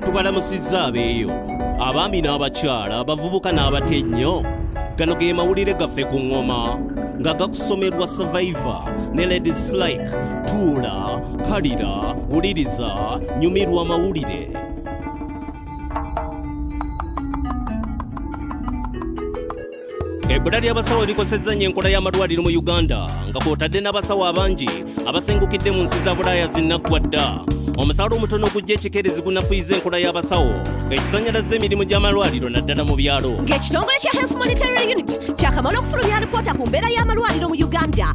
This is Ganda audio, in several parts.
tubalamusizza abeeyo abaami n'abakyala abavubuka n'abato ennyo gano ge mawulire gaffe ku ŋŋoma nga gakusomerwa survivor ne ladies like tuula Kalira, wuliriza, nyumirwa amawulire. ebbula ly'abasawo likosezza nnyo enkola y'amalwaliro mu uganda nga kwotadde n'abasawo abangi abasengukidde mu nsi za bulaaya zinnaggwa dda omusaala omutono ogujja ekikeerezi gunafuyiza enkola y'abasawo ekisanyalaza emirimu gy'amalwaliro naddala mu byalo ng'ekitongole kya health monitoring unit kyakamala okufulumya alipoota ku mbeera y'amalwaliro mu uganda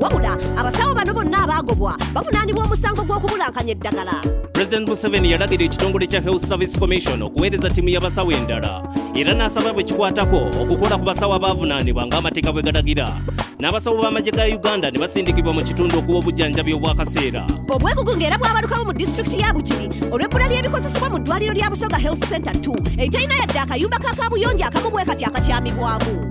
wabula abasawo bano bonna abaagobwa bavunaanibwa omusango gw'okubulankanya eddagala president museveni yalagira ekitongole kya health service commission okuweereza ttiimu y'abasawo endala era n'asaba bwe kikwatako okukola ku basawo abaavunaanibwa ng'amateeka bwe galagira n'abasawo b'amagye ga uganda ne basindikibwa mu kitundu okuwa obujjanjabi obw'akaseera obwegugu ng'era bwabalukawo mu disitulikiti ya bugiri olw'ebbula ly'ebikozesebwa mu ddwaliro lya busoga health center 2 eterina yadde akayumba ka kaabuyonjo akamu bwe kati akakyamibwamu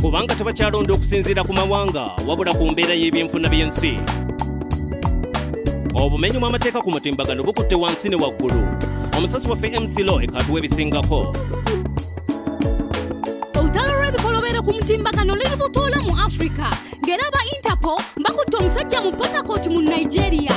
kubanga tebakyalonda okusinziira ku mawanga wabula ku mbeera y'ebyenfuna by'ensi obumenyi bw'amateeka ku mutimbagano bukutte wansi ne waggulu omusasi waffe mc loy katuwa ebisingako olutalo lw'ebikolobero ku mutimbagano luli butoola mu afrika ng'era ba interpol bakutte omusajja mu potakoti mu nigeria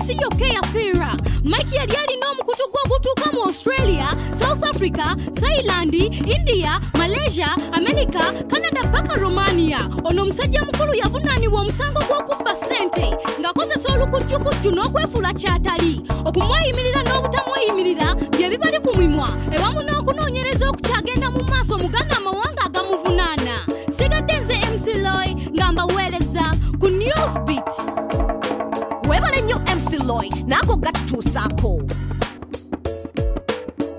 siyo keya fira mike yali alina omukutu gw'ogutuuka mu australia south africa thailand india malaysia america canada paka romania ono omusajja mukulu yavunaanibwa omusango gw'okubba ssente ng'akozesa olukujjukujju n'okwefuula ky'atali okumweyimirira n'obutamweyimirira bye bibali ku mimwa ewamu n'okunoonyereza okukyagenda mu maaso mugana amawanga agamuvunaana sigadde nze mcloy nga mbaweereza ku newsbit webale nnyo mc loy naago gatutuusaako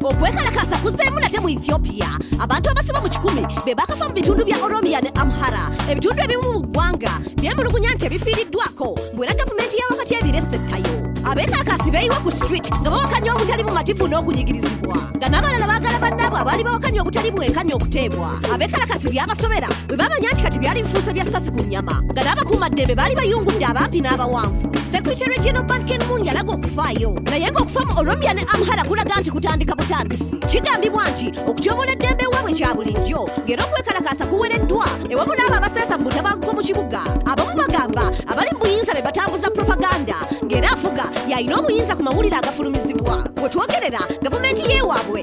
okwekalakaasa kuzeemu nate mu ethiopia abantu abasoba mu kikumi be bakafa mu bitundu bya oromia ne amhara ebitundu ebimu mu ggwanga byemulugunya nti ebifiiriddwako mbwera gavumenti ya wakati ebiresettayo abeekakaasi beeyiwa ku street nga bawakanya obutali bumativu n'okunyigirizibwa nga n'abalala baagala bannaabwe abaali bawakanya obutali bwenkanya okuteebwa abekalakasi byabasobera bwe bamanya nti kati byali bifuuse bya ssasi ku nnyama nga n'abakuumaddembe baali bayungudde abampi n'abawanvu sekurite regional bank enmun yalaga okufaayo naye ng'okufa mu oromia ne amhara kulaga nti kutandika butandisi kigambibwa nti okutyobola eddembe ewaabwe kya bulijjo ng'era okwekalakaasa kuwereddwa ewamu n'abo abaseesa mu butabanguko mu kibuga abamu bagamba abali mu buyinza be batambuza propaganda ng'era afuga yalina obuyinza ku mawulire agafulumizibwa wetwogerera gavumenti yeewaabwe